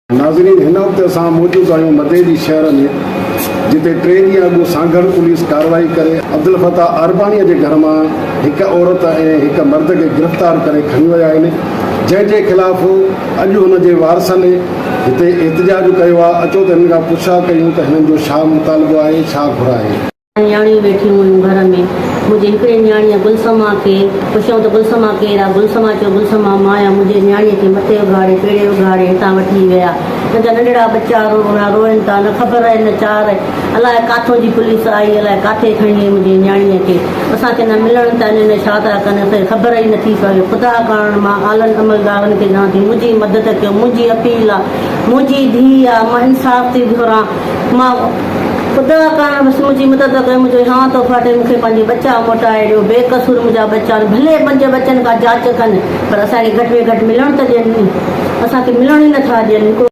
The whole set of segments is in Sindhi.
ناظرين هن وقت اسان موجود آهيون مدئي جي شهر ۾ جتي ٽي ڏينهن اڳ سانگهڙ پوليس ڪارروائي ڪري عبدالفتاح ارباڻي جي گهر مان هڪ عورت ۽ هڪ مرد کي گرفتار ڪري کڻي ويا آهن جنهن جي خلاف اڄ هن جي وارثن هتي احتجاج ڪيو آ اچو ته هنن کان پڇا ڪيون ته هنن جو ڇا مطالبو آهي ڇا گهر آهي. نياڻيون ويٺيون هيون گهر ۾. منهنجي هڪڙي نياڻيء گل سما کي پڇيائون ته گل سما ڪير آ؟ گل سما چيو گل سما مان آهيان منهنجي نياڻيء کي مٿي اگهاڙي پيڙهي اگهاڙي هتان وٺي ويا هن جا ننڍڙا ٻچا رو روئن روئن ٿا نه خبر نه چار الاء ڪاٿو جي پوليس آئي الاء ڪاٿي کڻي وئي منهنجي نياڻيء کي. اسان کي نه ملڻ ته انهن ڇا ٿا ڪن اسان کي خبر ئي نٿي پوي خدا ڪرڻ مان اعلن عملدارن کي چوان ٿي منهنجي مدد ڪيو منهنجي اپيل آ منهنجي ڌي آ مان انصاف ٿي گهران مان خدا ڪرڻ بس منهنجي مدد ڪيو منهنجو اهان ٿو ڦاٽي مون کي پنهنجي ٻچا موٽائي ڏيو بي قصور منهنجا ٻچا آهن ڀلي منهنجي ٻچن کان جاچ ڪن پر اسان کي گهٽ ۾ گهٽ ملڻ ته ڏين اسان کي ملڻ ئي نٿا ڏين هڪڙو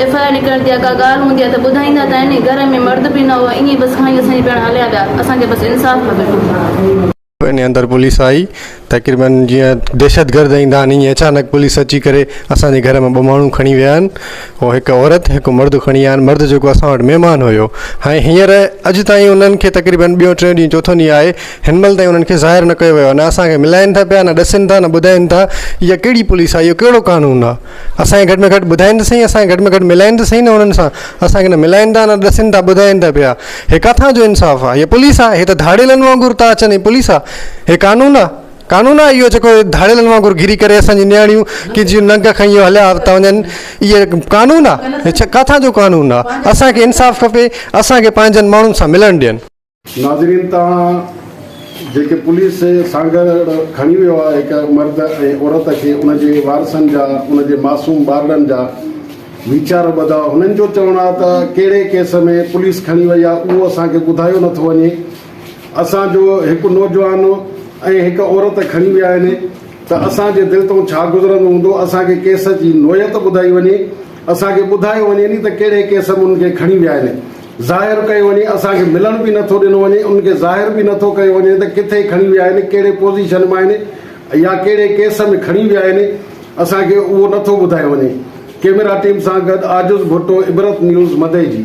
ايف آء آر نڪرڻ تي ڪا ڳالهه هوندي ها ته ٻڌائيندا ته آهن گهر ۾ مرد به نه هئا ائين بس کڻي اسان جي پياڻا هليا ويا اسان کي بس انصاف کپي. انهي اندر پوليس آئي تقريبن جيئن دهشت گرد ايندا آهن ايئن اچانڪ پوليس اچي ڪري اسان جي گهر مان ٻه ماڻهو کڻي ويا آهن ۽ هڪ عورت هڪ مرد کڻي آيا آهن مرد جيڪو اسان وٽ مهمان هيو ۽ هينئر اڄ تائين انهن کي تقريبن ٻيو ٽيون ڏينهن چوٿون ڏينهن آهي هن مهل تائين انهن کي ظاهر نه ڪيو ويو آهي نه اسان کي ملائن ٿا پيا نه ڏسين ٿا نه ٻڌائين ٿا اها ڪهڙي پوليس آهي اهو ڪهڙو قانون آهي. اسان کي گهٽ ۾ گهٽ ٻڌائين ته سهي اسان کي گهٽ ۾ گهٽ ملائين ته سهي نه انهن سان اسان کي نه ملائين ٿا نه ڏسين ٿا ٻڌائين ته پيا هي ڪٿان جو انصاف آهي هي پوليس آهي هي ته ڌاڙيلن وانگر ٿا اچن هي پوليس آهي هي قانون آهي قانون آهي اهو جيڪو ڌاڙيلن وانگر گهري ڪري اسان جي نياڻيون ڪي جي ننگ کنيو هليا ٿا وڃن اهي قانون آهي هي ڇا ڪٿان جو قانون آهي اسان کي انصاف کپي اسان کي پنهنجن ماڻهن سان ملڻ ڏين ناظرين تان جيڪي پوليس سانگهڙ کڻي ويو آهي هڪ مرد ۽ عورت کي ان جي وارثن جا ان جي معصوم ٻارڙن جا ويچار ٻڌا هنن جو چوڻ آهي ته ڪهڙي ڪيس ۾ پوليس کڻي وئي آهي اهو اسان کي ٻڌايو نه ٿو وڃي اسان جو هڪ نوجوان ۽ هڪ عورت کڻي ويا آهن ته اسان جي دل تون ڇا گذرندو هوندو اسان کي ڪيس جي نوعيت ٻڌائي وڃي اسان کي ٻڌايو وڃي ني ته ڪهڙي ڪيس ۾ ان کي کڻي ويا آهن ظاهر ڪيو وڃي، اسان کي ملڻ به نٿو ڏنو وڃي، انهن کي ظاهر به نٿو ڪيو وڃي ته ڪٿي کڻي ويا آهن، ڪهڙي پوزيشن ۾ آهن يا ڪهڙي ڪيس ۾ کڻي ويا آهن، اسان کي اهو نٿو ٻڌايو وڃي. ڪيميرا ٽيم سان گڏ عاجز ڀٽو، عبرت نيوز، مدئجي.